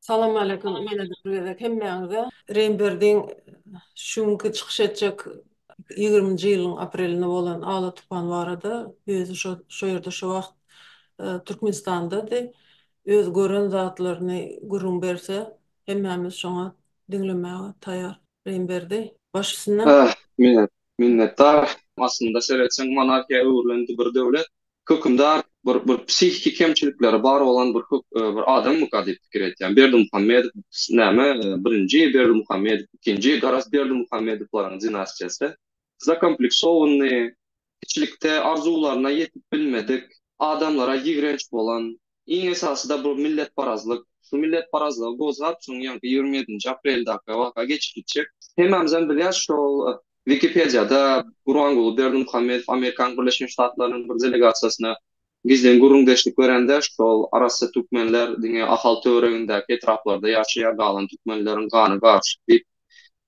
Salam aleýkum ýene bir gezek hemmäňize. Reýnberdiň şu günki çykyş etjek ýigriminji ýylyň aprelinde bolan Ala tupan barada özi şo şo ýerde şo wagt Türkmenistandady. Öz gören zatlaryny gürrüň berse hemmämiz şoňa diňlemäge taýar Reýnberdi. Baş üstüne. Ah, men Minnetdar. Aslynda seretseň monarhiýa öwrülen bir döwlet hökümdar bir bir psihiki kemçilikleri bar bolan bir bir adammyka diýip pikir etýän. Berdimuhamedow näme birinji Berdimuhamedow ikinji garaz Berdimuhamedowlaryň dinastiýasy zakompleksowanyny kiçilikde arzuwlaryna ýetip bilmedik adamlara ýigrenç bolan Iň esasy-da bu milletparazlyk. Şu milletparazlygy gozgap, şonuň ýaňky ýigrimi ýedinji apreldäki waka geçip gitjek. Hemmämizem bilýäs, şol Wikipediýada Gurbanguly Berdimuhamedow Amerikanyň Birleşen Ştatlarynyň bir delegasiýasyna gizlin gürrüňdeşlik berende, şol arassa türkmenler diňe Ahal töweregindäki etraplarda ýaşaýar, galan türkmenleriň gany garyşyk diýip,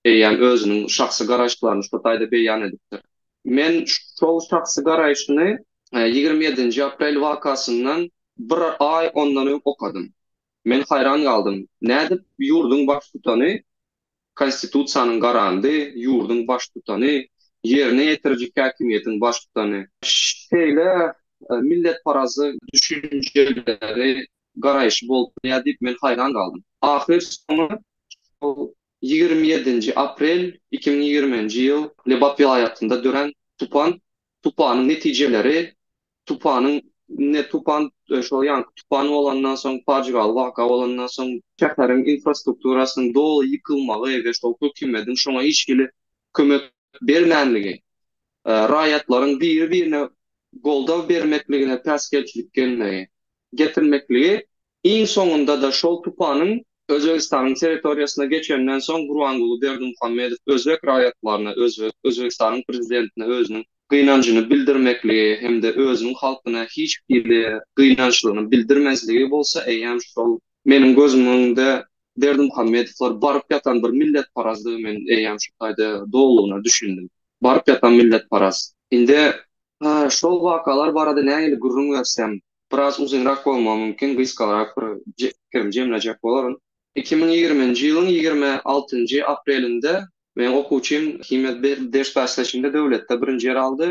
eýýäm özüniň şahsy garaýyşlaryny şo taýda beýan edipdir. Men şol şahsy garaýşyny Ýigrimi ýedinji aprel wakasyndan bir aý ondan öň okadym. Men haýran galdym, nädip ýurduň baştutany, Konstitusiýanyň garandy, ýurduň baştutany, ýerine ýetiriji häkimiýetiň baştutany, şeýle milletparazy düşünjeleri, garaýşy bolup bilýär diýip men haýran galdym. Ahyr soňy şol ýigrimi ýedinji aprel iki müň ýigriminji ýyl Lebap welaýatynda dörän tupan Tupanyň netijeleri Tupanyň ne tupan şo ýanky tupan bolandan soň pajygaly waka bolandan soň şäheriň infrastrukturasynyň doly ýykylmagy we şol hökümediň şoňa hiç hili kömek bermänligi raýatlaryň biri birine goldaw bermekligine päsgelçilik gelmegi getirmekligi Iň soňunda-da şol tupanyň Özbegistanyň territoriýasyna geçenden soň Gurbanguly Berdimuhamedow özbek raýatlaryna, özbek, Özbegistanyň prezidentine özüniň gynanjyny bildirmekligi hem-de özüniň halkyna hiç hili gynançlygyny bildirmezligi bolsa eýýäm şol meniň gözümiň öňünde Berdimuhamedowlar baryp ýatan bir milletparazdygy men eýýäm şu taýda dolugyna düşündim. Baryp ýatan milletparaz. Indi şol wakalar barada nähili gürrüň bersem, biraz uzynrak bolmagy mümkin, gysgarak bir pikirim jemlejek bolaryn. Iki müň ýigriminji ýylyň ýigrimi altynjy aprelinde meniň okuwçym himiýa ders bäsleşiginde döwletde birinji ýeri aldy.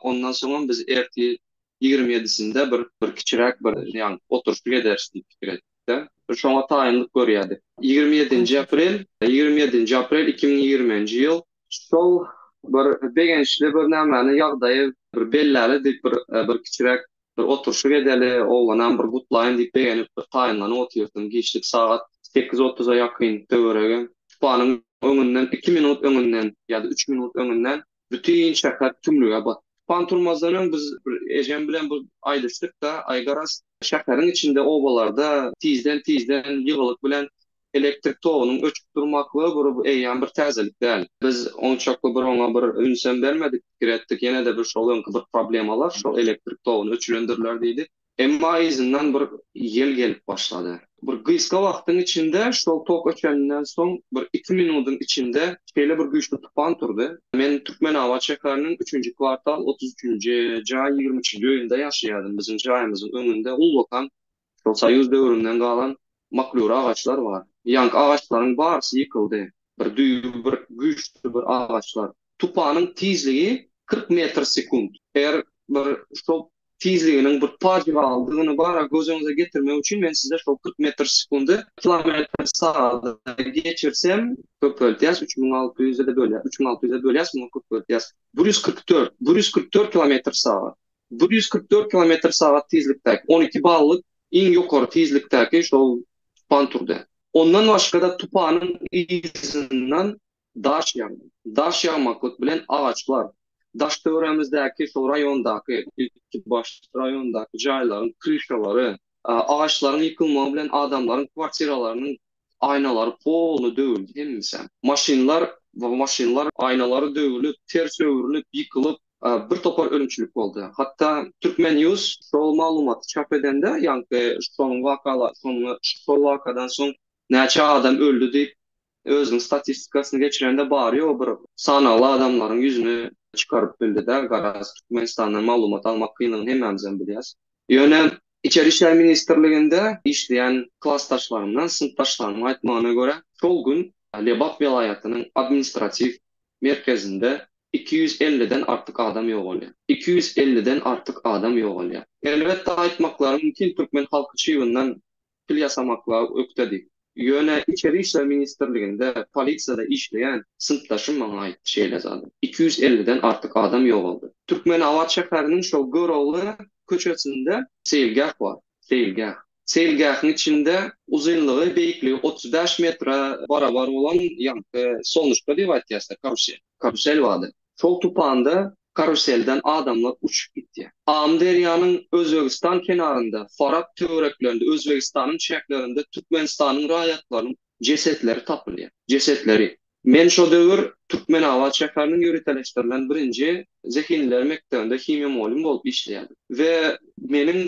Ondan soňam biz ertir ýigrimi ýedisinde bir bir kiçiräk bir ýagny oturyşyk ederis diýip pikir etdik-de, şoňa taýynlyk görýärdik. Ýigrimi ýedinji aprel, ýigrimi ýedinji aprel iki müň ýigriminji ýyl. Şol bir begençli bir nämäniň ýagdaýy bir belläli diýip bir bir kiçiräk Bir oturşyk edeli, oglanam bir gutlaýyn diýip begenip bir taýynlanyp otyrdym. Giçlik sagat sekiz otuza ýakyn töweregi. Tupanyň öňünden iki minut öňünden ýa-da üç minut öňünden bütin şäher tümlüge batdy. Tupan turmazdan öň biz bir ejem bilen bir aýdyşdyk-da, Aý garaz, şäheriň içinde obalarda tizden-tizden ýygylyk bilen Elektrik togunyň öçüp durmaklygy bir eýýäm bir täzelik däl. Biz onçakly bir oňa bir ünsem bermedik, pikir etdik, ýene-de bir şol öňki bir problemalar, şol elektrik toguny öçülendirler diýdi. Emma yzyndan bir ýel gelip başlady. Bir gysga wagtyň içinde şol tok öçeninden soň bir iki minudyň içinde şeýle bir güýçli tupan turdy. Men Türkmenabat şäheriniň üçünji kwartal otuz üçünji jaý ýigrimi üçünji öýünde ýaşaýardym. Biziň jaýymyzyň öňünde ullakan Şol soýuz döwründen galan maklur agaçlar bar. Ýaňky agaçlaryň barysy ýykyldy. Bir düýbi bir güýçli bir agaçlar. Tupanyň tizligi kyrk metr sekunt. Eger bir şol tizliginiň bir pajygalydygyny bara göz öňüňize getirmek üçin men size şol kyrk metr sekundy kilometr sagada geçirsem köpeltýäs üç müň alty ýüze bölýäs üç müň alty ýüze bölýäs muňa köpeltýäs bir ýüz kyrk dört bir ýüz kyrk dört kilometr sagat. Bir ýüz kyrk dört kilometr sagat tizlikdäki on iki ballyk iň ýokary tizlikdäki şol tupan turdy. Ondan başga-da tupanyň yzyndan daş ýagdy. Daş ýagmaklyk bilen agaçlar, daş-töwerämizdäki şol raýondaky, ilki başda raýondaky jaýlaryň kryşalary, agaçlaryň ýykylmagy bilen adamlaryň kwartiralarynyň Aýnalary poly döwüldi hemmişem. Maşynlar we maşynlar aýnalary döwülip, ters öwrülip, ýykylyp, bir topar ölümçilik boldy. Hatda Türkmen news şol maglumaty çap edende, ýaňky şonuň wakalar, soňra şol wakadan soň näçe adam öldi diýip, özüniň statistikasyny geçirende bary-ýogy bir sanagly adamlaryň ýüzüni çykaryp bildi-de, garaz, Türkmenistandan maglumat almak kynlygyny hemmämizem bilýäs. Ýöne Içeri işler ministrliginde işleýän klasdaşlarymdan, synpdaşlarymyň aýtmagyna görä, şol gün Lebap welaýatynyň administratiw merkezinde iki ýüz elliden artyk adam ýogalýar. Iki ýüz elliden artyk adam ýogalýar. Elbetde, aýtmaklary mümkin, türkmen halky çybyndan pul ýasamaklyga ökdedi. Ýöne Içeri işler ministrliginde polisiýada işleýän synpdaşym maňa aýtdy şeýle zady. Iki ýüz elliden artyk adam ýogaldy. Türkmenabat şäheriniň şol Görogly köçesinde seýilgäh bar. Seýilgäh. Seýilgähiň içinde uzynlygy, beýikligi otuz bäş metre barabar bolan ýaňky solnuşka diýip aýtýarsyda, karusel. Karusel bardy. Şol tupanda karuselden adamlar uçup gitýär. Amyderýanyň Özbegistan kenarynda, Farap töwereklerinde, Özbegistanyň çäklerinde Türkmenistanyň raýatlarynyň jesetleri tapylýar. Jesetleri. Men şo döwür Türkmenabat şäheriniň ýöriteleşdirilen birinji zehinliler mekdebinde himiýa mugallym bolup işleýärdim we meniň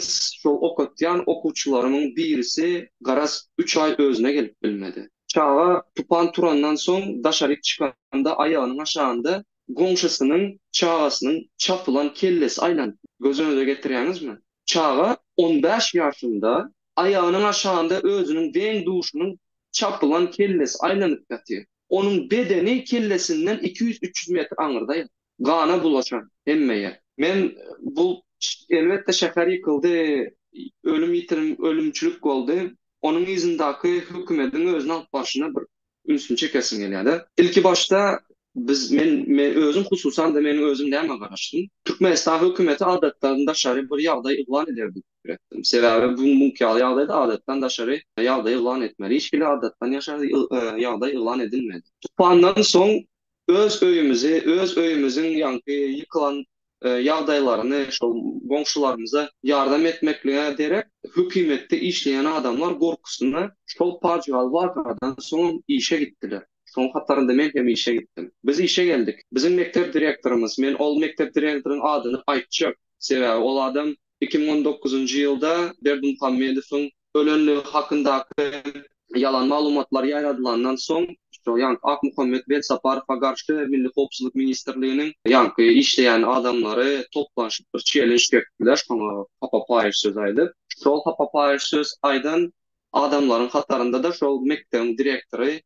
şol okatýan okuwçylarymyň birisi garaz üç aý özüne gelip bilmedi. Çaga tupan turandan soň daşaryk çykanda aýagynyň aşagynda goňşusynyň çagasynyň çapylan kellesi aýlanyp. Gözüňize getirýäňizmi? Çaga on bäş ýaşynda, aýagynyň aşagynda özüniň deň-duşunyň çapylan kellesi aýlanyp ýatyr. Onuň bedeni kellesinden iki ýüz-üç ýüz metr aňyrda ýatyr. Gana bulaşar hemme ýer. Men bul elbetde şäher ýykyldy, ölüm ýitirim ölümçilik boldy. Onuň yzyndaky hökümediň özüni alyp barşyna bir ünsüni çekesiň gelýärde. Ilki başda biz men men özüm hususanda meniň özüm näme garaşdym. Türkmenistan hökümeti adatdan daşary bir ýagdaý yglan eder diýip pikir etdim. Sebäbi bu muňky ýaly ýagdaýda adatdan daşary ýagdaý yglan etmeli. Hiç hili adatdan ýaşary ýagdaý yglan edilmedi. Tupandan soň Öz öýümizi, öz öýümiziň ýaňky ýykylan ýagdaýlaryny şol goňşularymyza ýardam etmeklige derek, hökümetde işleýän adamlar gorkusyna şol pajygaly wakadan soňam işe gitdiler. Şoň hatarynda men hem işe gitdim. Biz işe geldik. Biziň mekdep direktorymyz, men ol mekdep direktoryň adyny aýtjak, sebäbi ol adam iki müň on dokuzynjy ýylda Berdimuhamedowyň ölenligi hakyndaky ýalan maglumatlar ýaýradylandan soň, şo ýanky Akmuhammet Belsaparowa garşy Milli howpsuzlyk ministrliginiň ýanky işleýän adamlary toplanyşyp bir çelenj çekdiler, şoňa hapapaýyş söz aýdyp. Şol hapapaýyş söz aýdan adamlaryň hatarynda-da şol mekdebiň direktory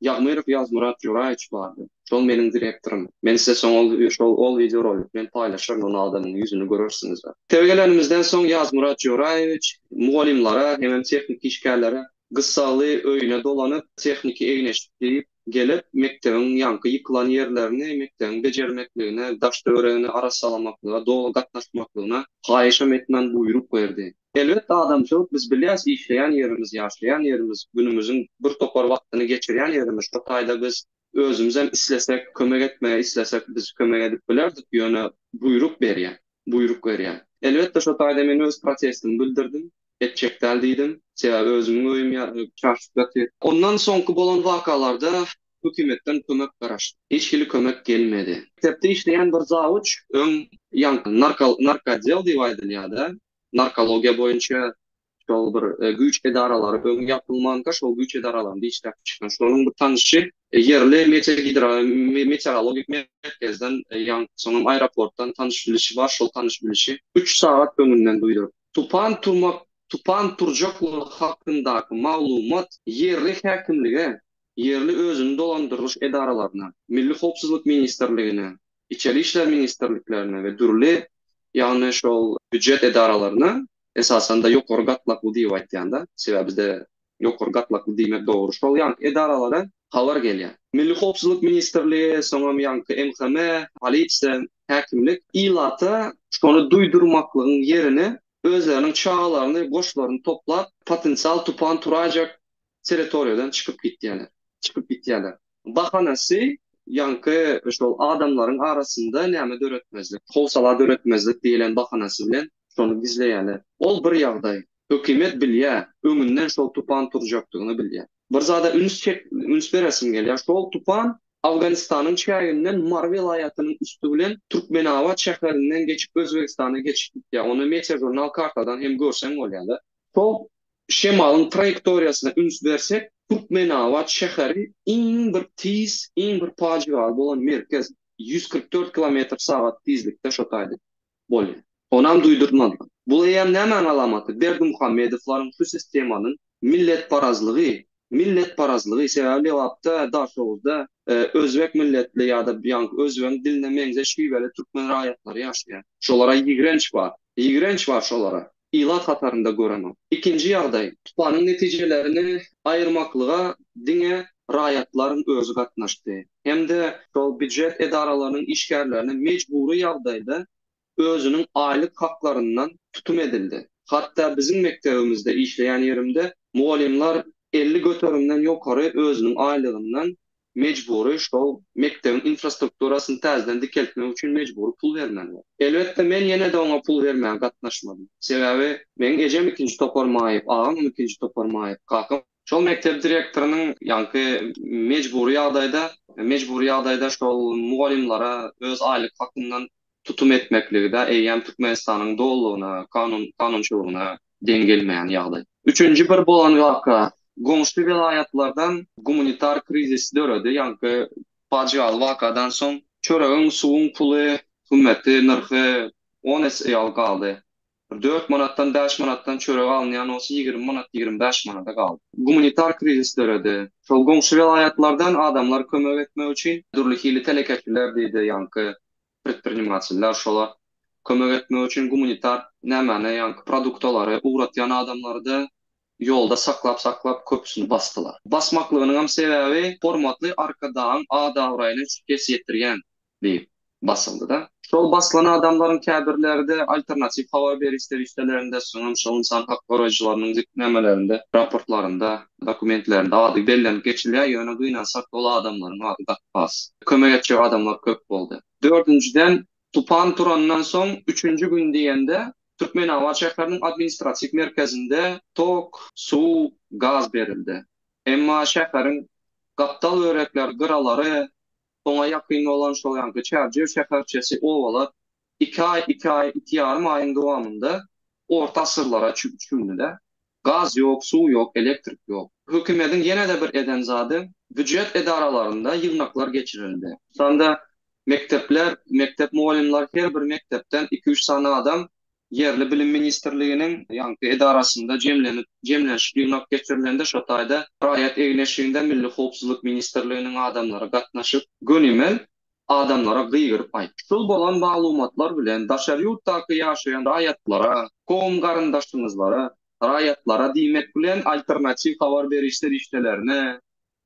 Ýagmyrow Ýazmyrat Juraýewiç bardy. Şol meniň direktorym. Men size soň ol şol ol wideorolik bilen paýlaşaryn ony adamyň ýüzüni görersiňizler. Tebe gelenimizden soň Ýazmyrat Juraýewiç mugallymlara hemem tehniki işgärlere gyssagly öýüne dolanyp tehniki egneşik geýip gelip mekdebiň ýaňky ýykylan ýerlerini mekdebiň bejermekligine daş-töweregini arassalamaklyga doly gatnaşmaklygyna haýyşam etmän buýruk berdi. Elbetde adamçylyk biz bilýäs işleýän ýerimiz ýaşaýan ýerimiz günümiziň bir topar wagtyny geçirýän ýerimiz şo taýda biz özümizem islesek kömek etmegi islesek biz kömek edip bilerdik ýöne buýruk berýär buýruk berýär elbetde şo taýda men öz protestimi bildirdim etjek däl diýdim sebäbi özümiň öýüm çaşyp ýatyr. Ondan soňky bolan wakalarda hökümetden kömek garaşdyk hiç hili kömek gelmedi. Mekdepde işleýän bir zawuç öň ýaňky narka narka odel diýip aýdylýada narkologiýa boýunça şol bir güýç edaralary öň ýapylmanka şol güýç edaralaryny dişläp çykan şonuň bir tanyşy ýerli meteorologik merkezden ýaňky soňam aeroportdan tanyş bilişi bar şol tanyş bilişi üç sagat öňünden duýduryp tupan turmak tupan turjaklygy hakyndaky maglumat ýerli häkimlige ýerli özüni dolandyrylyş edaralaryna Milli howpsuzlyk ministrligine Içeri işler ministrliklerine we dürli, ýagny şol býujet edaralaryna, esasan-da ýokary gatlakly diýip aýtýan-da, sebäbi bizde ýokary gatlakly diýmek dogry şol ýagny edaralara habar gelýär. Milli howpsuzlyk ministrligi, soňam ýaňky MHM, polisiýa, häkimlik ilata şony duýdurmaklygyň ýerine özleriniň çagalaryny, goşlaryny toplap, potensial tupan turajak territoriýadan çykyp gitýärler. Çykyp gitýärler. Bahanasy, ýaňky şol adamlaryň arasynda näme döretmezlik, howsala döretmezlik diýlen bahanasy bilen şony gizleýärler. Ol bir ýagdaý. Hökümet bilýär, öňünden şol tupan turjakdygyny bilýär. Bir zada üns çek, üns beresim gelýär. Şol tupan Awganystanyň çäginden Mary welaýatynyň üsti bilen Türkmenabat şäherinden geçip Özbegistana geçip gitýär. Ony Meteožurnal kartadan hem görseň bolýar-da. Şol şemalyň traýektoriýasyna üns bersek, Türkmenabat şäheri iň bir tiz, iň bir pajygaly bolan merkez, ýüz kyrk dört kilometr sagat tizlikde şo taýda bolýar. Onam duýdurtmazlar. Bul eýýäm nämäň alamaty? Berdimuhamedowlaryň şu sistemanyň milletparazlygy, Milletparazlygy sebäbi Lebapda, Daşoguzda özbek milletli ýa-da ýaňky özbegiň diline meňzeş şiweli türkmen raýatlary ýaşaýar. Şolara ýigrenç bar. Ýigrenç bar şolara. Ilat hatarynda görenok. Ikinji ýagdaý, tupanyň netijelerini aýyrmaklyga diňe raýatlaryň özi gatnaşdy. Hem-de şol býujet edaralarynyň işgärlerini mejbury ýagdaýda özüniň aýlyk haklaryndan tutum edildi. Hatda biziň mekdebimizde işleýän ýerimde mugallymlar elli göterimden ýokary özüniň aýlygyndan mejbury şol mekdebiň infrastrukturasyny täzeden dikeltmek üçin mejbury pul bermelidir. Elbetde, men ýene-de oňa pul bermäge gatnaşmadym. Sebäbi meň ejem ikinji topar maýyp, agamam ikinji topar maýyp, kakam. Şol mekdep direktorynyň ýaňky mejbury ýagdaýda mejbury ýagdaýda şol mugallymlara öz aýlyk hakyndan tutum etmekligi-de eýýäm Türkmenistanyň dolulygyna, kanun-kanunçylygyna deň gelmeýän ýagdaý. Üçünji bir bolan waka, goňşy welaýatlardan gumanitar krizis döredi, ýaňky pajygaly wakadan soň çöregiň, suwuň puly, hümmeti, nyrhy on esse ýaly galdy. Bir dört manatdan, bäş manatdan çörek alynýan bolsa, ýigrimi manat, ýigrimi bäş manada galdy. Gumanitar krizis döredi. Şol goňşy welaýatlardan adamlar kömek etmek üçin dürli hili telekeçiler diýdi, ýaňky predprinimateller şolar kömek etmek üçin gumanitar nämäni, ýaňky produktalary ugratýan adamlary-da Ýolda saklap-saklap köpüsini basdylar. Basmaklygynyňam sebäbi hormatly Arkadagyň ad-abraýyna şikes ýetirýän diýip basyldy-da. Şol basylan adamlaryň käbirleri-de alternatiw habar beriş serişdelerinde, soňam şol ynsan hak goraýjylarynyň gitnamelerinde, raportlarynda, dokumentlerinde ady bellenip geçilýär, ýöne gynansak ol adamlaryň ady gaty az. Kömek etjek adamlar köp boldy. Dördünjiden, Tupan turandan soň üçünji gün diýende Türkmenabat şäheriniň administratiw merkezinde tok, suw, gaz berildi. Emma şäheriň gapdal börekler gyralary, oňa ýakyn bolan şol ýanky Çärjew şäherçesi, obalar iki aý, iki aý, iki ýarym aýyň dowamynda orta asyrlara çümdüler. Gaz ýok, suw ýok, elektrik ýok. Hökümediň ýene-de bir eden zady, býujet edaralarynda ýygnaklar geçirildi. Şonda mekdepler, mekdep mugallymlary her bir mekdepden iki-üç sany adam ýerli Bilim ministrliginiň ýaňky edarasynda jemlenip, jemlenşik ýygnak geçirilende şo taýda raýat egin-eşiginde Milli howpsuzlyk ministrliginiň adamlary gatnaşyp, gönimel adamlara gygyryp aýt. Şul bolan maglumatlar bilen daşary ýurtdaky ýaşaýan raýatlara, kowum-garyndaşyňyzlara, raýatlara diýmek bilen alternatiw habar beriş serişdelerine,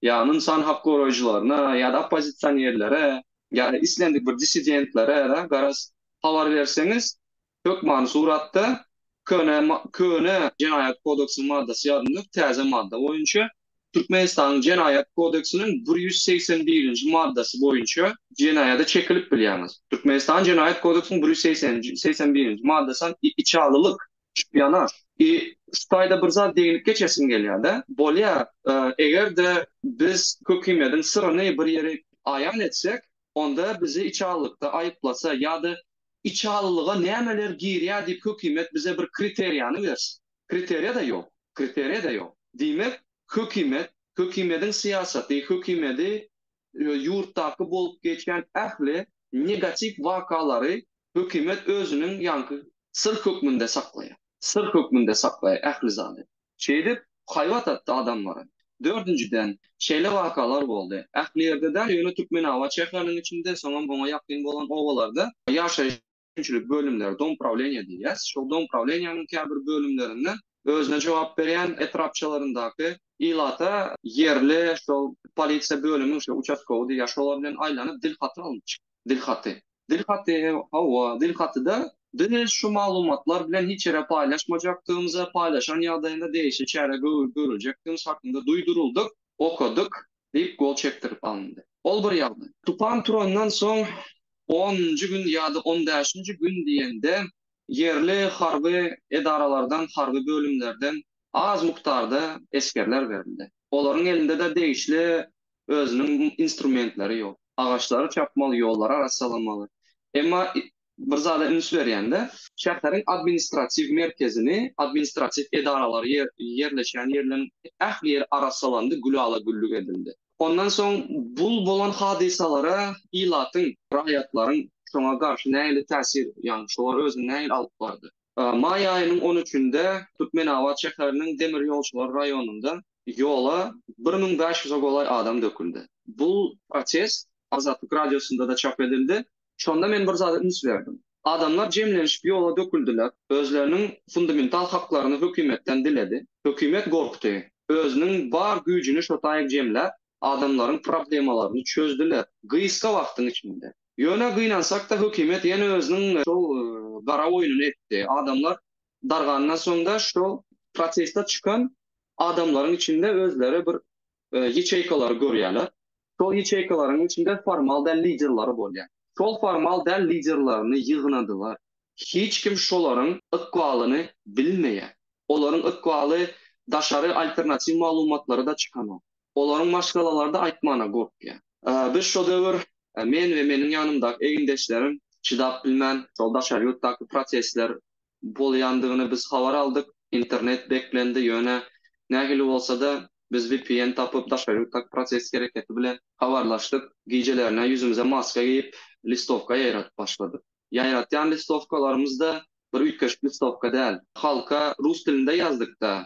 ýa ynsan hak goraýjylaryna, ýa-da oppozisionerlere, ýa-da islendik bir dissidentlere-de garaz habar berseňiz, Hökmany suratda, köne köne Jenaýat kodeksiniň maddasy ýaly däl, täze madda boýunça, Türkmenistanyň Jenaýat kodeksiniň bir ýüz segsen birinji maddasy boýunça jenaýada çekilip bilýäňiz. Türkmenistanyň Jenaýat kodeksiniň bir ýüz segsen segsen birinji maddasam içalylyk, şpionaž. I şu taýda bir zat degnip geçesim gelýär-de. Bolýa, eger-de biz Kökimediň syryny bir ýere aýan etsek, onda bizi içalylykda aýyplasa ýa-da içalylyga nämeler girýär diýip hökümet bize bir kriteriýany bersin. Kriteriýa-da ýok. Kriteriýa-da ýok. Diýmek, hökümet, hökümediň syýasaty, hökümedi we ýurtdaky bolup geçýän ähli negatiw wakalary hökümet özüniň ýaňky syr hökmünde saklaýar. Syr hökmünde saklaýar ähli zady. Şeýdip, haýbat atdy adamlara. Dördünjiden, şeýle wakalar boldy. Ähli ýerde däl, ýöne Türkmenabat şäheriniň içinde, soňam oňa ýakyn bolan obalarda ýaşaýyş önümçilik bölümleri, domprawleniýe diýýäs, şol domprawleniýäniň käbir bölümlerinden özüne jogap berýän etrapçalaryndaky ilata ýerli şol polisiýa bölümiň şol uçastkowydy ýa şolar bilen aýlanyp dil haty alnyp çykdy. dilhaty. Dilhaty, hawa, dilhatyda biz şu maglumatlar bilen hiç ýere paýlaşmajakdygymyza, paýlaşan ýagdaýynda degişli çäre görüljekdigimiz hakynda duýduryldyk, okadyk diýip gol çekdirip alyndy. Ol bir ýagdaý. Tupan turandan soň onunjy gün ýa-da on bäşinji gün diýende ýerli harby edaralardan, harby bölümlerden az mukdarda esgerler berildi. Olaryň elinde-de degişli özüniň instrumentleri ýok. Agaçlary çapmaly, ýollary arassalamaly. Emma bir zada üns berýän-de, şäheriň administratiw merkezini, administratiw edaralary ýerleşýän ýerleriň ähli ýeri arassalandy, gülala-güllük edildi. Ondan soň bu bolan hadysalara ilatyň, raýatlaryň şoňa garşy nähili täsir, ýagny şolar özüni nähili alyp bardy? Maý aýynyň on üçünde Türkmenabat şäheriniň demirýolçylar raýonynda ýola bir müň bäş ýüze golaý adam döküldi. Bu protest Azatlyk Radiosynda-da çap edildi. Şonda men bir zada üns berdim. Adamlar jemlenişip ýola döküldiler, özleriniň fundamental haklaryny hökümetden diledi. Hökümet gorkdy. Özüniň bar güýjüni şo taýy jemläp, adamlaryň problemalaryny çözdüler, gysga wagtyň içinde. Ýöne gynansakda hökümet ýene özüniň şol gara oýnuny etdi. Adamlar dargandan soňda şol proteste çykan adamlaryň içinde özleri bir ýaçeýkalary görýärler. Şol ýaçeýkalaryň içinde formal däl liderleri bolýar. Şol formal däl liderlerini ýygnadylar. Hiç kim şolaryň ykbalyny bilmeýär. Olaryň ykbaly daşary alternatiw maglumatlary-da çykanok. Olaryň maşgalalary-da aýtmana gorkýar. Biz şo döwür, men we meniň ýanymdaky egindeşlerim çydap bilmän, şol daşary ýurtdaky protestler bolýandygyny biz habar aldyk. Internet beklendi, ýöne nähili bolsa-da, biz vpn tapyp, daşary ýurtdaky protest hereketi bilen habarlaşdyk. Gijelerine ýüzümize maska geýip, listowka ýaýradyp başladyk. Ýaýratýan listowkalarymyz-da bir üýtgeşik listowka däl. Halka rus dilinde ýazdyk-da,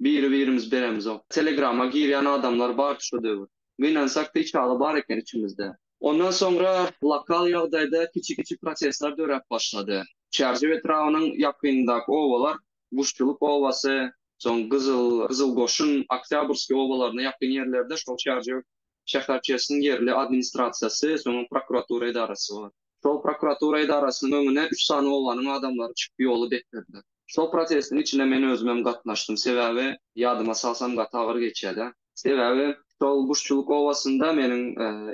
Biri birimiz beremizok. Telegrama girýän adamlar bardy şo döwür. Gynansak da içaly bar eken içimizde. Ondan soňra lokal ýagdaýda kiçi-kiçi protestler döräp başlady. Çärjew etrabynyň ýakynyndaky obalar, Guşçulyk obasy, soň Gyzyl, Gyzyl goşun, Oktýabrskiý obalaryna ýakyn ýerlerde şol Çärjew şäherçesiniň ýerli administrasiýasy, soňam prokuratura edarasy bar. Şol prokuratura edarasynyň öňüne üç sany obanyň adamlary çykyp ýoly beklediler. Şol protestiň içine men özümem gatnaşdym. Sebäbi ýadyma salsam gaty agyr geçýädä. Sebäbi şol Guşçulyk obasynda meniň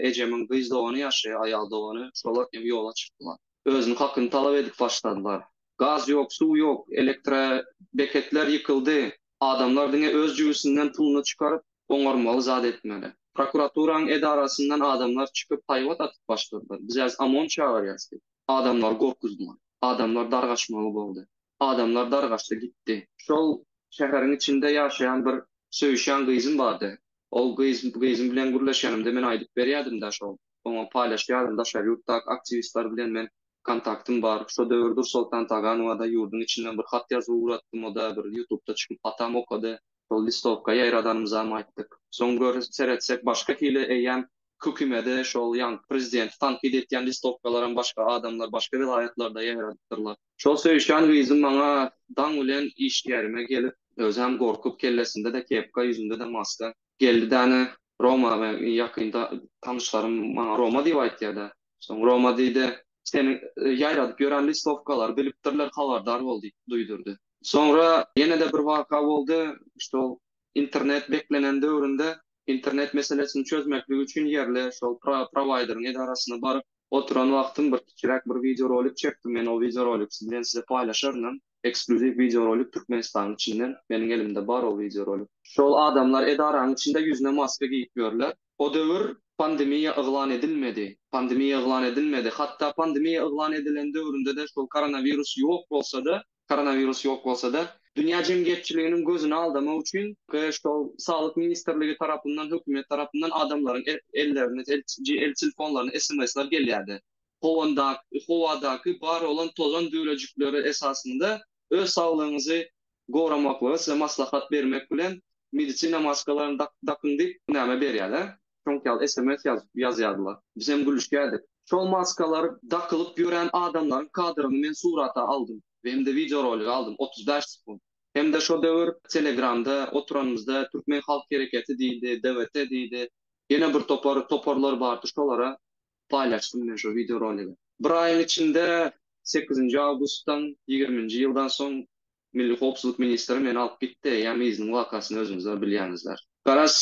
ejemiň gyz dogany ýaşaýar, aýal dogany. Şolar hem ýola çykdylar. Özüniň hakyny talap edip başladylar. Gaz ýok, suw ýok, elektrobeketler ýykyldy. Adamlar diňe öz jübüsinden puluny çykaryp, oňarmaly zat etmeli. Prokuraturaň edarasyndan adamlar çykyp haýbat atyp başladylar. Biz häzir OMON çagyrýas diýip. Adamlary gorkuzdylar. Adamlar dargaşmaly boldy. Adamlar dargaşdy gitdi. Şol şäheriň içinde ýaşaýan bir söýüşýän gyzym bardy. Ol gyz gyzym bilen gürleşenimde men aýdyp berýädim-dä şol. Oňa paýlaşýardym daşary ýurtdaky aktiwistler bilen men kontaktym bar. Şo döwür Dursoltan Taganowa-da ýurduň içinden bir hat ýazyp ugratdym o-da bir ýutubda çykyp hatam okady. Şol listowka ýaýradanymyzam aýtdyk. Soň gör seretsek başga hili eýýäm hökümede şol ýaňky prezidenti tankyt etýän listowkalaram başga adamlar başga welaýatlarda ýaýradypdyrlar. Şol söýüşýän gyzym maňa daň bilen işgärime gelip özem gorkup kellesinde-de kepka ýüzünde-de maska geldi däne Roma ýakynda tanyşlarym maňa Roma diýip aýtýada Soň Roma diýdi. Seniň ýaýradyp ýören listowkalary bilipdirler, habardar bol diýip duýdurdy. Soňra ýene-de bir waka boldy. Şol internet beklenen döwründe internet meselesini çözmeklik üçin ýerli şol prowaýderiň edarasyna baryp oturan wagtym bir kiçiräk bir wideorolik çekdim. Men o wideorolik bilen size paýlaşarynam. Ekskluziw wideorolik Türkmenistanyň içinden. Meniň elimde bar o wideorolik. Şol adamlar edaraň içinde ýüzüne maska geýip ýörler. O döwür pandemiýa yglan edilmedi. Pandemiýa yglan edilmedi. Hatda pandemiýa yglan edilen döwründe-de şol koronawirus ýok bolsa-da, koronawirus ýok bolsa-da, dünýä jemgyýetçiliginiň gözüni aldamak üçin şol Saglyk ministrligi tarapyndan, hökümet tarapyndan adamlaryň ellerine, el telefonlaryna sms-ler gelýärdi. Howanda, howadaky bar bolan tozan düwrejikleri esasynda öz saglygyňyzy goramaklygy size maslahat bermek bilen medisina maskalaryny dak dakyň diýip näme berýäle şoňk ýaly sms ýazyp ýazýardylar biz hem gülüşýädik şol maskalar dakylyp ýören adamlaryň kadryny men surata aldym hemde wideo rolik aldym otuz bäş sekunt hemde şo döwür telegramda oturanymyzda türkmen halk hereketi diýdi dgt diýdi ýene bir topar toparlar bardy şolara paýlaşdym men şo wideo roligi. Bir aýyň içinde sekizinji awgustdan ýigriminji ýyldan soň Milli howpsuzlyk ministri meni alyp gitdi, eýýäm yzynyň wakasyny özüňizler bilýäňizler. Garaz,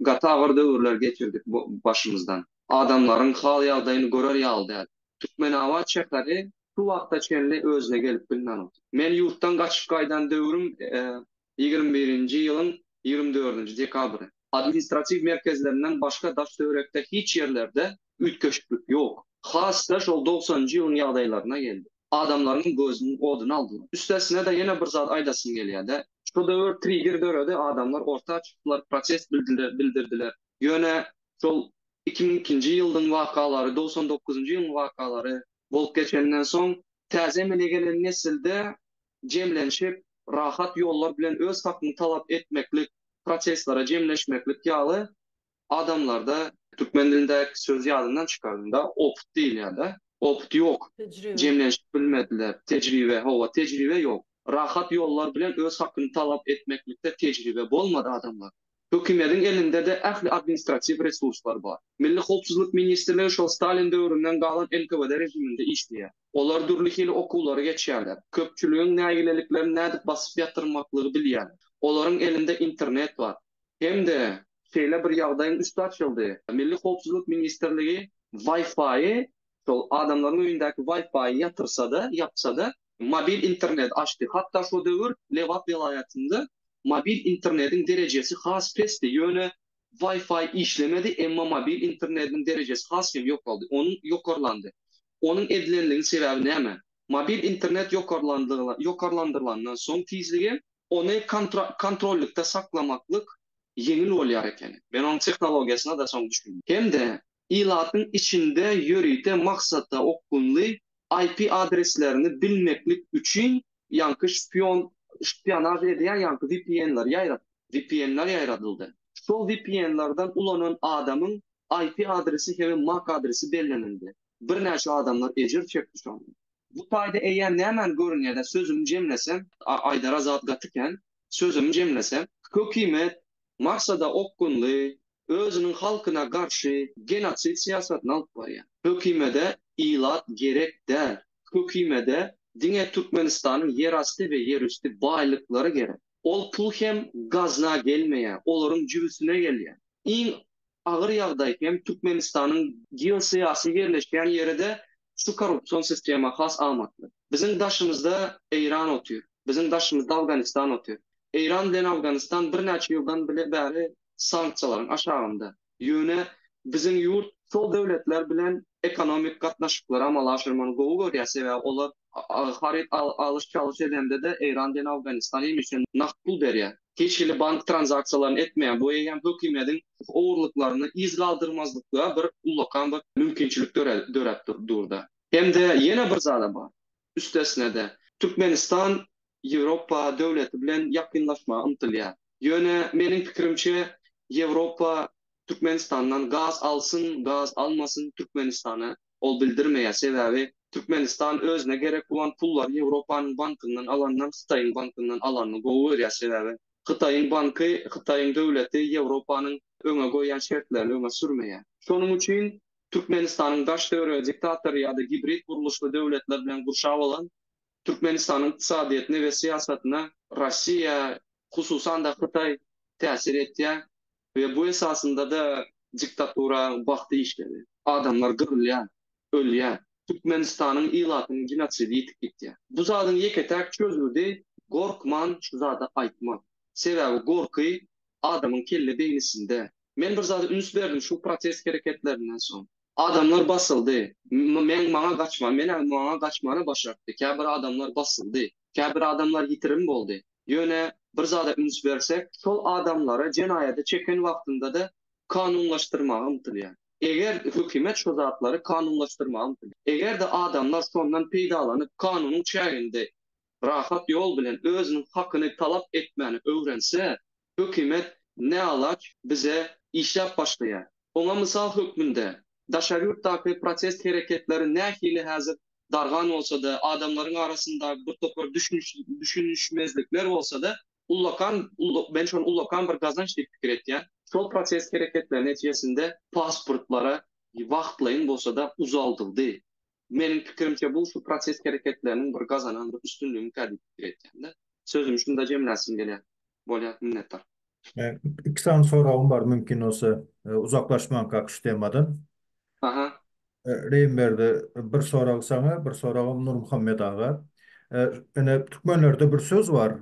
gaty agyr döwürler geçirdik başymyzdan. Adamlaryň hal-ýagdaýyny görer ýaly däl. Türkmenabat şäheri şu wagta çenli özüne gelip bilmän otyr. Men ýurtdan gaçyp gaýdan döwrüm ýigrimi birinji ýylyň ýigrimi dördünji dekabry. Administratiw merkezlerinden başga daş-töwerekde hiç ýerlerde üýtgeşiklik ýok. Has-da şol dogsanynjy ýylyň ýagdaýlaryna geldi. Adamlaryň gözüniň oduny aldylar. Üstesine-de ýene bir zat aýdasym gelýär-de, şu döwür trigger döredi, adamlar orta çykdylar, protest bildirdiler. Ýöne şol iki müň ikinji ýyldyň wakalary, dogsan dokuzynjy ýylyň wakalary bolup geçenden soň, täze emele gelen nesilde jemlenşip, rahat ýollar bilen öz hakyňy talap etmeklik, protestlere jemleşmeklik ýaly adamlarda, türkmen dilindäki söz ýadymdan çykardym-da, opyt diýilýär-de, opyt ýok, jemlenşip bilmediler, tejribe, hawa, tejribe ýok. Rahat ýollar bilen öz hakyny talap etmeklikde tejribe bolmady adamlar. Hökümediň elinde-de ähli administratiw resurslar bar. Milli howpsuzlyk ministrligi şol Stalin döwründen galan NKWD režiminde işleýär. Olar dürli hili okuwlary geçýärler, köpçüligiň nägileliklerini nädip basyp ýatyrmaklygy bilýärler. Olaryň elinde internet bar. Hem-de şeýle bir ýagdaýyň üsti açyldy, Milli howpsuzlyk ministrligi Wi-Fi-y, şol adamlaryň öýündäki Wi-Fi-y ýatyrsa-da, ýapsa-da, mobil interneti açdy. Hatda şo döwür Lebap welaýatynda mobil internetiň derejesi has pesdi, ýöne Wi-Fi işlemedi, emma mobil internetiniň derejesi has hem ýokaldy, onuň ýokarlandy. Onuň edilenligiň sebäbi näme? Mobil internet ýokarlandyrylandan soň tizligi, ony kontrollykda saklamaklyk ýeňil bolýar eken. Men onuň tehnologiýasyna-da soň düşündim. Hem-de ilatyň içinde ýörite maksata okgunly IP adreslerini bilmeklik üçin ýaňky şpion, şpionaž edýän ýaňky VPN-ler ýaýradyldy. Şol VPN-lerden ulanan adamyň IP adresi hem-ä mac adresi bellenildi. Birnäçe adamlar ejir çekdi şonda. Bu taýda eýýäm nämäni görünýär-dä, sözümi jemlesem. Aýdara zat gaty kän. Sözümi jemlesem. Hökümet Marsada okgunly, özüniň halkyna garşy genosid syýasatyny alyp barýar. Hökümede ilat gerek däl. Hökümede diňe Türkmenistanyň ýerasty we ýerüsti baýlyklary gerek. Ol pul hem gazna gelmeýär, olaryň jübüsine gelýär. Iň agyr ýagdaý hem Türkmenistanyň geosyýasy ýerleşýän ýeri-de şu korrupsion sistema has amatly. Biziň daşymyzda Eýran otyr, biziň daşymyzda Awganistan otyr. Eýran bilen Awganistan birnäçe ýyldan bile bäri sanksiýalaryň aşagynda. Ýöne biziň ýurt şol döwletler bilen ekonomik gatnaşyklary amala aşyrmany gowy görýär, sebäbi olar haryt alyş-çalyş edende-de Eýran bilen Awganistan hemişe nagt pul berýär. hiç hili bank tranzaksiýalaryny etmeýär. Bu eýýäm hökümetiň ogurlyklaryny yz galdyrmazlykda bir ullakan bir mümkinçilik döräp dur-da. Hem-de ýene bir zad-a bar. Üstesine-de, Türkmenistan Ýewropa döwleti bilen ýakynlaşmaga ymtylýar. Ýöne, meniň pikirimçe, Ýewropa Türkmenistandan gaz alsyn, gaz almasyn, Türkmenistana Ol bildirmeýär, sebäbi Türkmenistan özüne gerek bolan pullary Ýewropanyň bankyndan alandan Hytaýyň bankyndan alanyny gowy görýär, sebäbi Hytaýyň banky, Hytaýyň döwleti Ýewropanyň öňe goýýan şertlerini öňe sürmeýär. Şonuň üçin Türkmenistanyň daş döwrege diktator ýa-da gibrid gurluşly döwletler bilen gurşap alan Türkmenistanyň ykdysadyýetine we syýasatyna Russiýa, hususan-da Hytaý täsir etýär we bu esasynda-da diktatura wagty işledi. Adamlar gyrylýar, ölýär. Türkmenistanyň ilatynyň genosidi ýitip gitýär. Bu zadyň ýeke-täk çözgüdi gorkman şu zady aýtmak. Sebäbi gorky adamyň kelle beýnisinde, Men bir zada üns berdim şu protest hereketlerinden soň. Adamlar basyldy. Meň maňa gaçma, men-ä maňa gaçmana başartdy. Käbir adamlar basyldy. Käbir adamlar ýitirim boldy. Ýöne bir zada üns bersek, şol adamlary jenaýada çeken wagtynda-da kanunlaşdyrmaga ymtylýar. Eger hökümet şu zatlary kanunlaşdyrmaga ymtylýar. Eger-de adamlar şondan peýdalanyp, kanunyň çäginde rahat ýol bilen özüniň hakyny talap etmäni öwrense, hökümet näalaç bize işläp başlaýar. Oňa mysal hökmünde, daşary ýurtdaky protest hereketleri nähili häzir dargan bolsa-da, adamlaryň arasynda bir topar düşünişmezlikler bolsa-da, ullakan, men şony ullakan bir gazanç diýip pikir etýän, şol protest hereketleri netijesinde pasportlara wagtlaýyn bolsa-da uzaldyldy. Meniň pikirimçe bu şu protest hereketleriniň bir gazanan bir üstünligini kä diýip pikir etýän-de. Sözümi şunda jemläsim gelýär. Bolýar, minnetdar. Iki sany soragym bar mümkin bolsa uzaklaşmanka şu temadan. Aha. Reýimberdi bir sorag saňa, bir soragam Nurmuhammet aga. Ene türkmenlerde bir söz bar,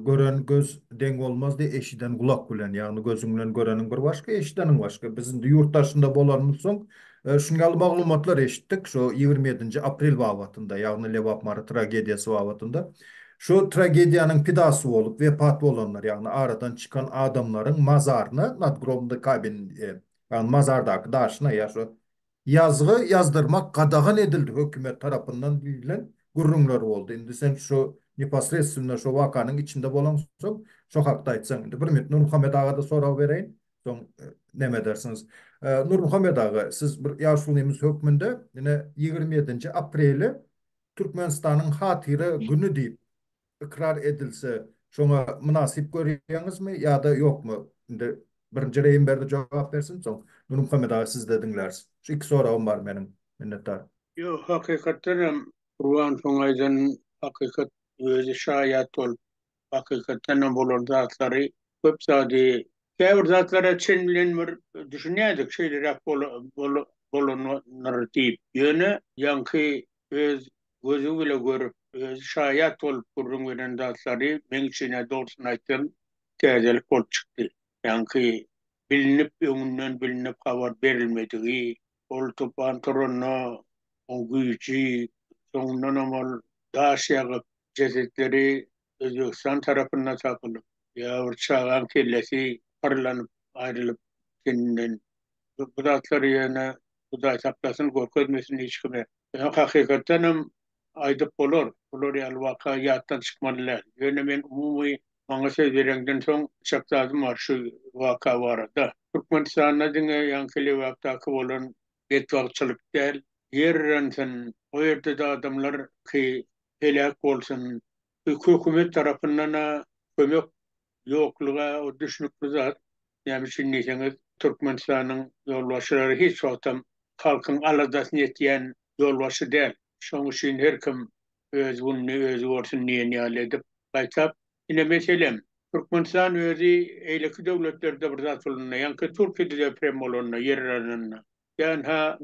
gören göz deň bolmazdy eşiden gulak bilen, ýagny gözüň bilen göreniň bir başga, eşideniň başga. Biz indi ýurt daşynda bolanymyz soň şunuň ýaly maglumatlar eşitdik, şo ýigrimi ýedinji aprel babatynda, ýagny Lebap Mary tragediýasy babatynda. Şo tragediýanyň pidasy bolup wepat bolanlar, ýagny aradan çykan adamlaryň mazaryna, nadgrobny kabin, ýagny mazardaky daşyna ýa şo Ýazgy ýazdyrmak gadagan edildi hökümet tarapyndan diýlen gürrüňler boldy. Indi sen şu neposredstwno şu wakanyň içinde bolaňsoň, şo hakda aýtsaň. Indi bir minut Nurmuhammet aga-da sorag bereýin, soň näme edersiňiz. Nurmuhammet aga, siz bir ýaşulymyz hökmünde ine ýigrimi ýedinji apreli Türkmenistanyň hatyra güni diýip, Ykrar edilse, şoňa mynasyp görýäňizmi ýa-da ýokmy? Indi birinji Reýim Berdi jogap bersin, soň Nurmuhammet aga sizde diňläris. Şu iki soragym bar meniň. Minnetdar. Ýok, hakykatdan hem Gurban şoň aýdan hakykat özi şaýat bolup, hakykatdan hem bolan zatlary köp zady käbir zatlara çen bilen bir düşünýädik şeýleräk bolandyr diýip. Ýöne ýaňky öz Gözi bile görüp, özi şaýat bolup gürrüň beren zatlary meň üçin-ä dogrusyny aýtsam täzelik bolup çykdy. Ýaňky bilinip, öňünden bilinip habar berilmedigi, ol tupan turanda oň güýji, soňundanam ol daş ýagyp, jesetleri Özbegistan tarapynda tapylyp, ýa bir çagaň kellesi pyrlanyp aýrylyp teninden. Bu zatlary ýöne Hudaý saklasyn, görkezmesin hiç kime. Ýöne hakykatdan hem aýdyp bolar, bular ýaly waka ýatdan çykmaly däl. Ýöne men umumy maňa söz bereňden soň çak zadym bar şu waka barada. Türkmenistanda diňe ýaňky Lebapdaky bolan betbagtçylyk däl, ýer ýansyn, o ýerde-de adamlar ki heläk bolsun. Bu hökümet tarapyndan-a kömek ýoklugy o düşnükli zat. Näme üçin diýseňiz, Türkmenistanyň ýolbaşçylary hiç wagtam halkyň aladasyny etýän ýolbaşçy däl. Şoň üçin her kim öz gününi özi görsün diýen ýaly edip, gaýtap. Ine, meselem, Türkmenistan özi eýleki döwletlerde bir zat bolanda, ýaňky Türkiýede deprem bolanda, ýer alanynda, Ýa-ha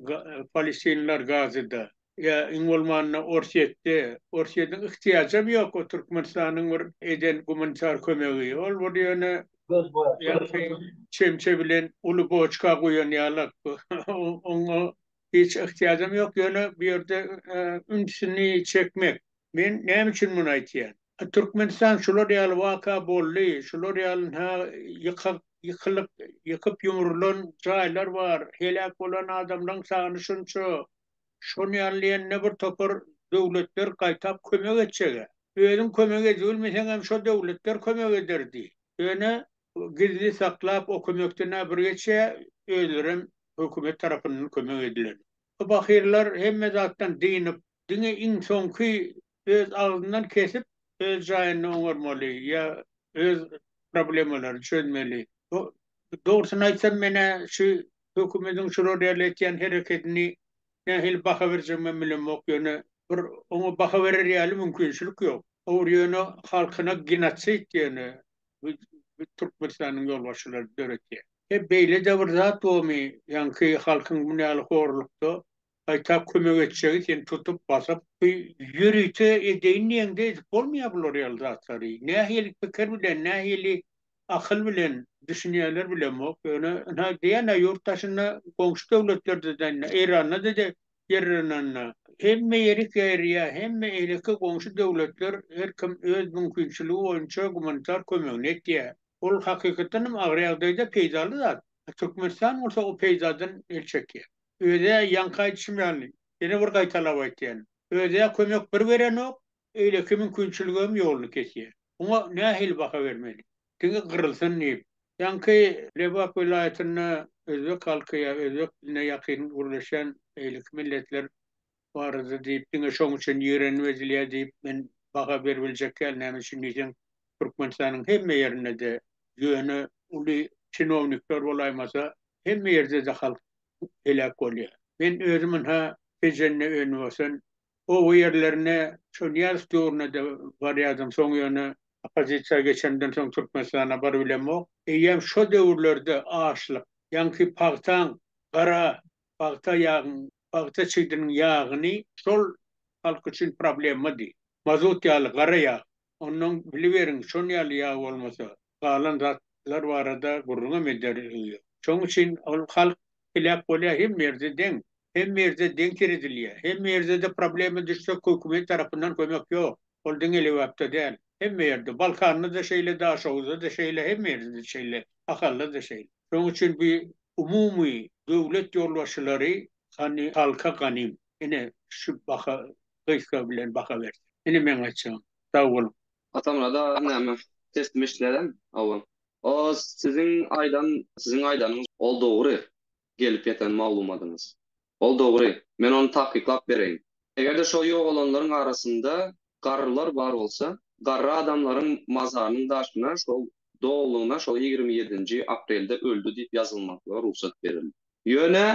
palestinler Gazada, ýa iň bolmanda Orsýetde. Orsýetiň yhtyýajam ýok o Türkmenistanyň bir eden gumanitar kömegi. Ol bir ýöne çemçe bilen uly boçka guýan ýalak. Oňa hiç yhtyýajam ýok, ýöne bu ýerde ünsüni çekmek, Men näme üçin muny aýtýan? Türkmenistan şular ýaly waka boldy, şular ýaly ha ýykak ýykylyk ýykyp ýumrulan jaýlar bar, heläk bolan adamlaň sany şunça, şony ýaly diýende bir topar döwletler gaýtap kömek etjegä. Özüň kömek edibilmeseňem şo döwletler kömek ederdi. Ýöne gizli saklap o kömekden ha bir geçýä özlerem hökümet tarapyndan kömek edilen. Bu bahyrlar hemme zatdan dynyp Diňe iň soňky öz agzyndan kesip öz jaýynda oňarmaly ýa öz problemalary çözmeli. Dogrusyny aýtsam menä şu hökümediň şular ýaly etýän herekedini nähili baha berjegime bilemok ýöne bir oňa baha berer ýaly mümkinçilik ýok. Ogry ýöne halkyna genosid ýöne bu Türkmenistanyň ýolbaşçylary döretýä. He beýle de bir zat bormy ýaňky halkyň bu ýaly horlukda Gaýta kömek etjegi seni tutup basyp. Ýörite edeýin diýeňde edip bolmaýar bular ýaly zatlary. Nähili pikir bilen, nähili akyl bilen, düşünýärler bilemok. Ýöne ynha diýýän-ä ýurt daşynda goňşy döwletlerde de indi Eýranda-da de ýerlenende hemme ýeri gerýär, hemme eýleki goňşy döwletler her kim öz mümkinçiligi boýunça gumanitar kömegini etýär. Ol hakykatdan hem agyr ýagdaýda peýdaly zat. Türkmenistan bolsa o peýdadan el çekýär. Öz-ä ýaňky aýdyşym ýaly, ýene bir gaýtalap aýtýan, öz-ä kömek bir berenok, öýleki mümkinçiligem ýoluny kesýä. Muňa nähili baha bermeli? Diňe gyrylsyn diýip, ýaňky Lebap welaýatynda özbek halky ýa özbek diline ýakyn gürleşýän beýleki milletler barada diýip diňe şoň üçin ýigrenip edilýär diýip men baha beribiljek däl näme üçin diýseň Türkmenistanyň hemme ýerinde-de ýöne uly çinownikler bolaýmasa hemme ýerde-de halk heläk bolýar. Men özüm ynha Tejende önbasan oba ýerlerine şo Nyýazow döwrünede barýadym soň ýöne oppozisiýa geçenden soň Türkmenistana baryp bilemok. Eýýäm şo döwürlerde açlyk ýaňky pagtaň gara pagta ýagyň Pagta çigdiniň ýagyny şol halk üçin problemmady. Mazut ýaly gara ýag. Onnoň biliberiň şon ýaly ýag bolmasa galan zatlar barada gürrüňem eder ýüzüň ýok. Şoň üçin ol halk heläk bolýar hemme ýerde deň. Hemme ýerde deň seredilýär. Hemme ýerde-de problema düşsek hökümet tarapyndan kömek ýok. Ol diňe Lebapda däl, hemme ýerde, Balkanda-da şeýle, Daşoguzda-da şeýle, hemme ýerde-de şeýle, Ahalda-da şeýle. Şonuň üçin bu umumy döwlet ýolbaşçylary hany halka ganym, ine, şu baha gysga bilen baha bersin. Ine meň aýtjagym. Sag boluň. Atamyrat-a näme, teslim eşitmänem, hawa. O siziň aýdan, siziň aýdanyňyz, ol dogry gelip ýeten maglumadyňyz. Ol dogry. Men ony takyklap bereýin. Eger-de şo ýogalanlaryň arasynda garrylar bar bolsa, garry adamlaryň mazarynyň daşyna şol doglugyna şol ýigrimi ýedinji aprelde öldi diýip ýazylmaklyga rugsat berildi. Ýöne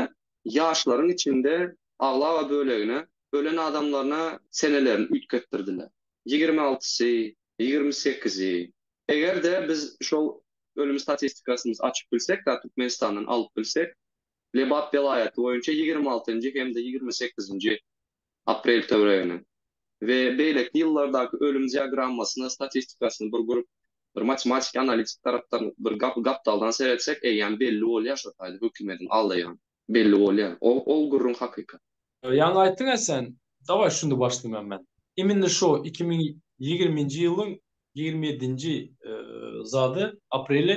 ýaşlaryň içinde aglaba bölegine ölen adamlaryna senelerini üýtgetdirdiler. Ýigrimi altysy, ýigrimi sekizi. Eger-de biz şol ölüm statistikasymyz açyp bilsek-da, Türkmenistandan alyp bilsek, Lebap welaýaty boýunça ýigrimi altynjy hem-de ýigrimi sekizinji aprel töweregine we beýleki ýyllardaky ölüm diagrammasyna statistikasyny bir görüp bir matematiki analitik tarapdan bir gapdaldan seretsek eýýäm belli bolýar şo taýda hökümediň aldaýan belli bolýar ol gürrüň hakykat. Ýaňy aýtdyňa sen. Daway şuny başlaýman men. Immine şo iki müň ýigriminji ýylyň ýigrimi ýedinji zady apreli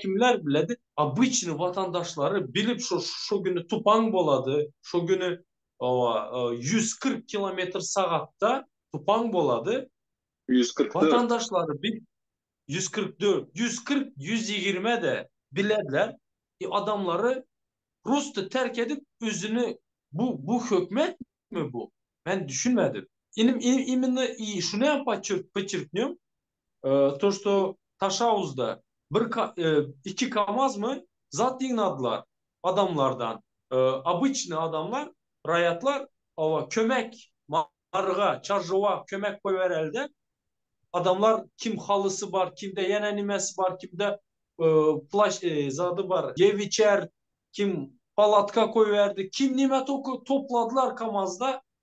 Kimler biledi? Obyçny watandaşlary bilip şu şu güni tupan bolady, şu güni owa ýüz kyrk kilometr sagatda tupan bolady. Ýüz kyrk dört. Watandaşlary bil ýüz kyrk dört, ýüz kyrk, ýüz ýigrimede bilerler. E adamlary prosta terk edip özüni bu bu hökmetmi bu? Men düşünmedim. Inim inim immina i şunem paçur pyçurkňum To što Taşawuzda bir iki kamazmy zat ýygnadylar adamlardan obyçnyý adamlar raýatlar oba kömek maryga çarjowa kömek goýberelide adamlar kim halysy bar kimde ýene nimesi bar kimde plaş zady bar ýep içer kim palatka goýberdi kim nime topladylar kamazda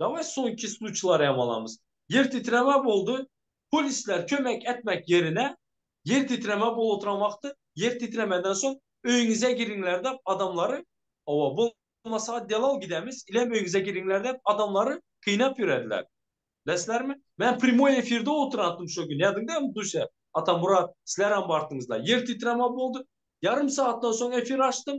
Daway soňky sluçilary hem alamyz. Ýer titreme boldy, polisler kömek etmek ýerine ýer titreme bolup oturan wagty ýer titremeden soň öýüňize giriňler dep adamlary oba bolmasa delal gidemiz ilem öýüňize giriňler dep adamlary kynap ýörediler. Bilesizlermi? Men primoý efirde oturantym şo gün ýadyňdamy Duся, Atamurat sizlerem bartyňyzlar. Ýer titreme boldy. Ýarym sagatdan soň efir açdym.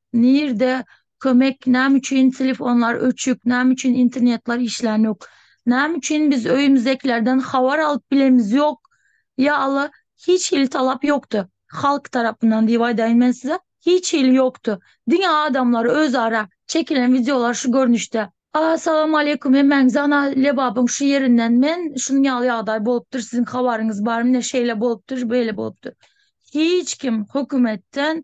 Nirde kömek name üçin telefonlar öçük name üçin internetler işlänok name üçin biz öýümizdekilerden habar alyp bilemiz ýok ýa alla hiç hili talap ýokdy halk tarapyndan diýip aýdaýyn men size hiç hili ýokdy diňe adamlar özara çekilen wideolar şu görnüşde. As salam aleýkum hemmäňize ana lebabyň şu ýerinden men şunuň ýaly ýagdaý bolupdyr siziň habaryňyz bar mine şeýle bolupdyr beýle bolupdyr hiç kim hökümetden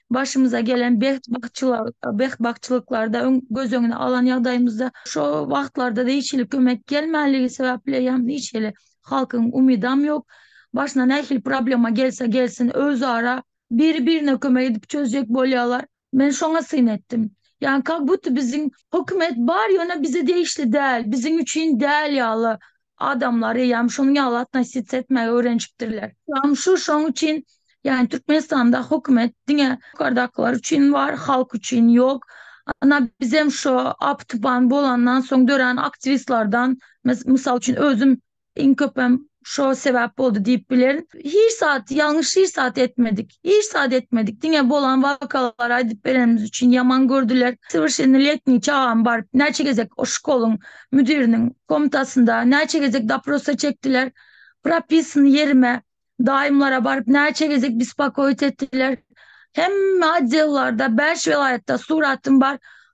başymyza gelen betbagtçylyklary-da göz öňüne alan ýagdaýymyzda, şo wagtlarda hiç hili kömek gelmänligi sebäpli hem hiç hili halkyň umydam ýok. Başyna nähili problema gelse gelsin, özara biri-birine kömek edip çözjek bolýarlar. Men şoňa syn etdim. Ýagny kak-buddy biziň hökümet bar, ýöne bize degişli däl, biziň üçin däl ýaly Adamlar eýýäm şonuň ýaly atnositsiýa etmäge öwrenişipdirler. Ýagny şu şoň üçin, ýagny Türkmenistanda hökümet diňe ýokardakylar üçin bar, halk üçin ýok. Ana bizem şo apy-tupan bolandan soň dörän aktiwistlardan, mysal üçin özüm iň köpem şo sebäp boldy diýip bilerin. Hiç zat, ýalňyş hiç zat etmedik. Hiç zat etmedik. Diňe bolan wakalar aýdyp berenimiz üçin ýaman gördüler. Sowrşennoletniý çagam bar. Näçe gezek o şkoluň müdiriniň komtasynda, näçe gezek doprosa çekdiler. Propisyny ýerime, daýymlara baryp näçe gezek bispakoýit etdiler. Hemme otdellarda, bäş welaýatda suratym bar.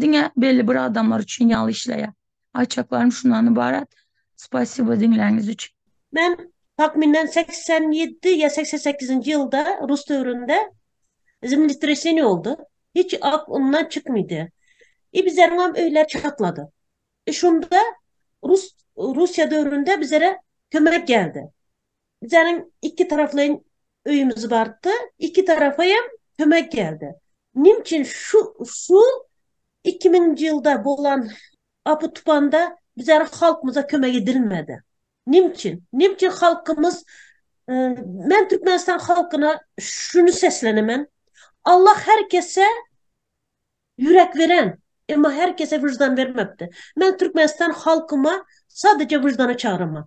Diňe belli bir adamlar üçin ýaly işleýär. Aýtjaklarym şundan ybarat. Spasibo diňläniňiz üçin. Men takmynan segsen ýedi ýa segsen sekizinji ýylda rus döwründe zemletreseniýe boldy. Hiç ok undan çykmydy. I bizleriňem öýler çatlady. I şunda rus Russiýa döwründe bizlere kömek geldi. Bizäniň iki taraflaýyn öýümiz bardy. Iki tarapa hem kömek geldi. Nim üçin şu şu iki müňünji ýylda bolan apy-tupanda bizäniň halkymyza kömek edilmedi? Nim üçin? Nim üçin halkymyz Men Türkmenistan halkyna şuny seslenemen, Allah her kese ýürek beren, emma her kese wyždan bermepdi. Men Türkmenistan halkyma sadece wyždana çagyraman.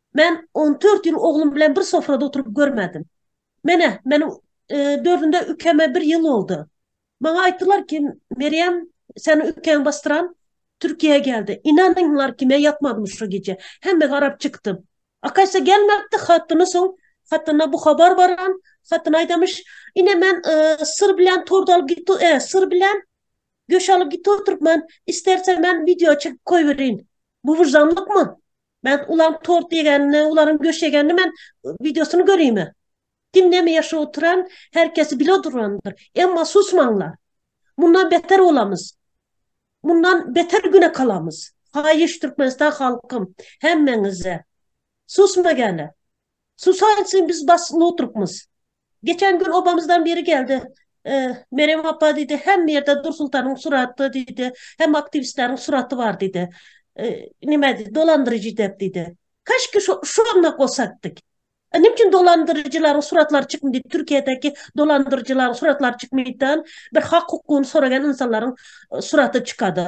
Men on dört ýyl oglum bilen bir sofrada oturyp görmedim. Menä, meniň dördünde ükeme bir ýyl boldy. Maňa aýtdylar ki, Merýem, seni ükeň basdyran Türkiýä geldi. Ynanyňlar ki, men ýatmadym şo gije. Hemme garap çykdy. Akaýsa gelmepdi, hatyny soň hatyna bu habar baran, hatyn aýdamyş, ine men syr bilen tort alyp gitdi, syr bilen göş alyp gitdi oturyp men, isterse men wideo çekip goýberin. Bu wyždanlykmy? Men ulan tort ýegenini, ularyň göşegenini men wideosyny görýme. Kim näme ýaşap oturan, her kesi bile durandyr. Emma susmaňlar. Mundan beter bolamyz. Mundan beter güne kalamyz. Haýyş Türkmenistan halkym, hemmeňize. Susma gäle. Susaýsyn biz bas notrukmyz. Geçen gün obamyzdan biri geldi. Merem apa diýdi, hemme ýerde Dursultanyň suraty diýdi, hemme aktiwistleriň suraty bar diýdi. Nime diýdi, dolandyryjy dep diýdi. Kaşki şo-şonda gosak dik. Nime üçin dolandyryjylaryň suratlary çykmady diýdi, Türkiýedäki dolandyryjylaryň suratlary çykmady dan, bir hak-hukugyny soragan ynsanlaryň suraty çykady.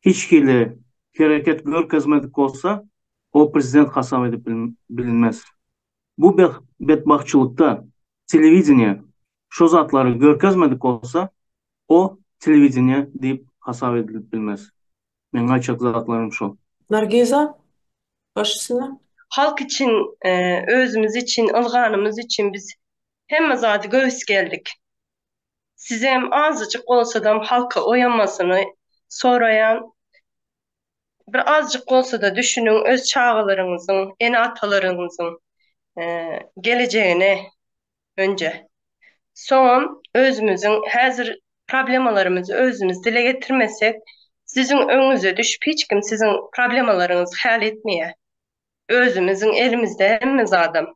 hiç hili hereket görkezmedik bolsa, o prezident hasap edip bilinmez. Bu betbagtçylykda telewideniýe şo zatlary görkezmedik bolsa, o telewideniýe diýip hasap edilip bilmez. Meň aýtjak zatlarym şo. Nargiza, baş üstüne. Halk üçin, özümiz üçin, ylganymyz üçin biz hemme zady göwüs geldik. sizem azajyk bolsadam halka oýamasyny soraýan. Bir azajyk bolsada düşüniň öz çagalaryňyzyň, ene-atalaryňyzyň gelejegine önje. Soňam özümiziň häzir problemalarymyzy özümiz dile getirmesek, siziň öňüňize düşüp hiç kim siziň problemalaryňyzy häl etmeýär. Özümiziň elimizde hemme zadam.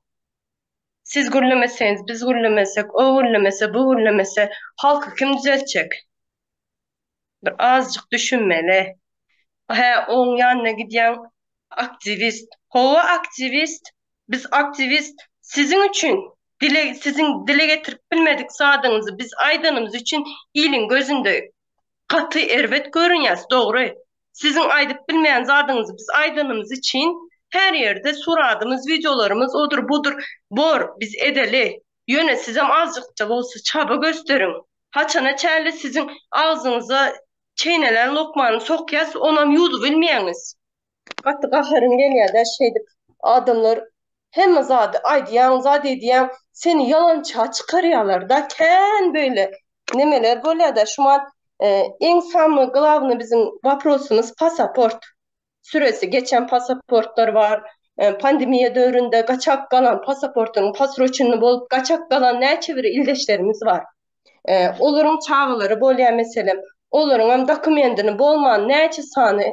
Siz gürlemeseňiz, biz gürlemesek, o gürlemese, bu gürlemese, halky kim düzeltjek? Bir azjyk düşünmeli. Hä, oň ýanyna gidýäň, aktiwist. Hawa, aktiwist. Biz aktiwist. Siziň üçin, dile, siziň dile getirip bilmedik zadyňyzy biz aýdanymyz üçin iliň gözünde gaty erbet görünýäs dogry siziň aýdyp bilmeýän zadyňyzy biz aýdanymyz üçin her ýerde suradymyz wideolarymyz odur budur bor biz edeli ýöne sizem azjykja bolsa çaba gösteriň haçana çäli siziň agzyňyza çeýnelen lokmany sokýas onam ýuwdubilmeýäňiz. Gaty gaharym gelýädä şeýdip adamlar hemme zady aýdýaň zat edýäň seni ýalança çykarýalarda kän beýle nemeler bolýada şumat iň samy glawny biziň waprosymyz pasaport süresi geçen pasaportlar bar pandemiýa döwründe gaçak galan pasaportyň pasroçenny bolup gaçak galan näçe bir ildeşlerimiz bar olaryň çagalary bolýa meselem olaryňam dokumendini bolman näçe sany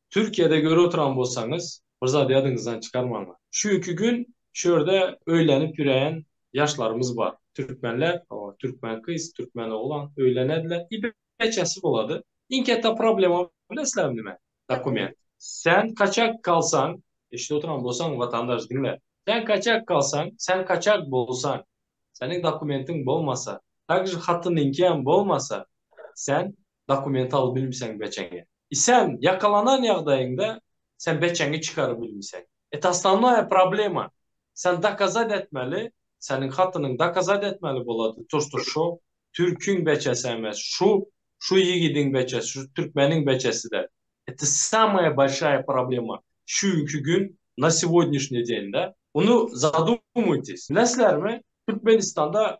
Türkiýede göri oturan bolsaňyz bir zat ýadyňyzdan çykarmaň. Şu iki gün şu ýerde öýlenip ýöreýän ýaşlarymyz bar. Türkmenler, türkmen gyz, türkmen oglan öýlenediler i beçesi bolady. Iň ketde problema bileslermi nime? Dokument. Sen kaçak kalsaň, eşidip oturan bolsaň watandaş diňle. Sen kaçak kalsaň, sen kaçak bolsaň, seniň dokumentiň bolmasa, takže hatynyňkyam bolmasa, sen dokument alyp bilmseň beçeňi. I sen ýakalanan ýagdaýyňda sen beçeňi çykaryp bilmseň. Et osnovnoýa problema sen dokazat etmeli seniň hatynyň dokazat etmeli bolady turstur şo türkiň beçesi emes şu şu ýigidiň beçesi şu türkmeniň beçesidir et samoýa bolşaýa problema şu günki gün na segodinyşnyý den da. Ony zadumytis. Bileslermi Türkmenistanda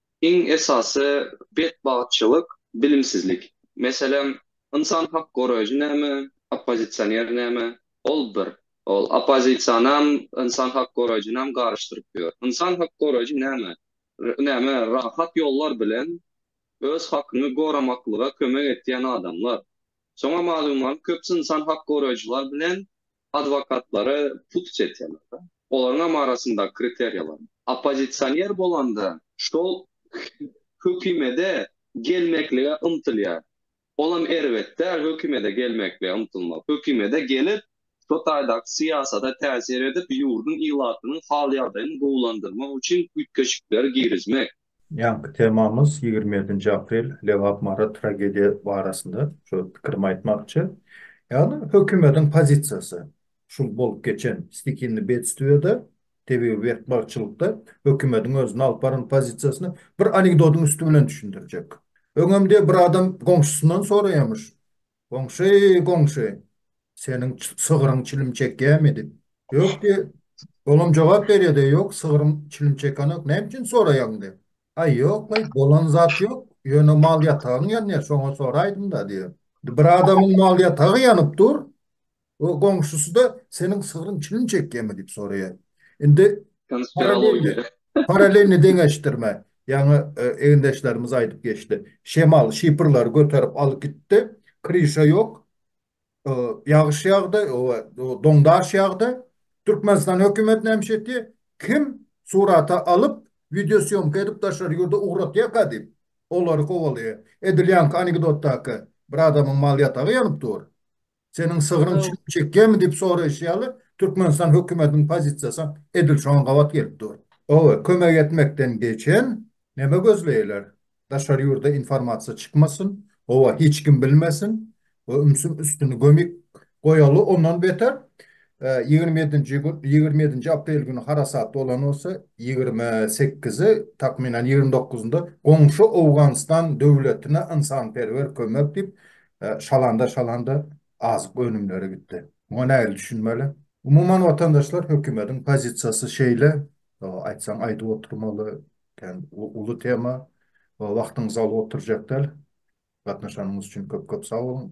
Iň esasy betbagtçylyk bilimsizlik. Meselem, ynsan hak goraýjy näme, oppozisioner näme? Ol bir. Ol oppozisionam, ynsan hak goraýjynam garyşdyryp ýör. Ynsan hak goraýjy näme? Näme, rahat ýollar bilen öz hakyňy goramaklyga kömek etýän adamlar. Şoňa malum ol köpüsi ynsan hak goraýjylar bilen Adwokatlary put çeçelerde, olaryňam arasynda kriteriýalar. Oppozisioner bolanda şol hökümede gelmeklige ymtylýar. Olam erbet däl hökümede gelmeklige ymtylmak. Hökümede gelip, şo taýdaky syýasada täsir edip, ýurduň ilatynyň hal-ýagdaýyny gowulandyrmak üçin üýtgeşikleri girizmek. Ýaňky temamyz ýigrimi ýedinji aprel Lebap Mary tragediýa barasynda şu pikirimi aýtmakçy. Ýagny hökümediň pozisiýasy şul bolup geçen stikinni bedstwiýada tebigy betbagtçylykda hökümediň özüni alyp baran pozisiýasyny bir anekdodyň üsti bilen düşündirjek. Öňem diýe bir adam goňşusyndan soraýamyş Goňşy, goňşy, seniň sygryň çilim çekýärmi? diýip. Ýok, diýip. Olam jogap berýär-de, ýok, sygrym çilim çekenok, näme üçin soraýaň? diýip. Aý, ýok, aý, bolan zat ýok, ýöne mal-ýatagyň ýanýar, şoňa soraýdym-da, diýip. Bir adamyň mal-ýatagy ýanyp dur, O goňşusy-da, Seniň sygryň çilim çekýärmi? diýip soraýar. Indi Konspirologiýa. Parallelni deňeşdirme. Ýaňy egindeşlerimiz aýdyp geçdi. Şemal şipirleri göterip alyp gitdi. Kryşa ýok. Ýagyş ýagdy, doňdaş ýagdy. Türkmenistan hökümeti nämiş etýär? Kim surata alyp, wideosýomka edip daşary ýurda ugratýarka diýip, olary kowalaýar. Edil ýaňky anekdotdaky bir adamyň mal ýatagy ýanyp dur. Seniň sygryň çüýrük çekýärmi diýip soraýşy ýaly, Türkmenistan hökümetiniň pozisiýasy edil şoňa gabat gelip dur. Hawa, kömek etmekden geçen, näme gözleýärler? Daşary ýurda informasiýa çykmasyn, hawa, hiç kim bilmesin we ümsüm üstüni gömik goýaly, ondan beter, ýigrimi ýedinji gün, ýigrimi ýedinji aprel güni harasat bolan bolsa, ýigrimi sekizi, takmynan ýigrimi dokuzynda goňşy Owganystan döwletine ynsanperwer kömek diýip, Şalanda şalanda azyk önümleri gitdi. Muňa nähili düşünmeli? Umuman watandaşlar hökümediň pozisiýasy şeýle, aýtsaň aýdyp oturmaly, kän uly tema, wagtyňyzy alyp oturjak däl. Gatnaşanyňyz üçin köp köp sag boluň.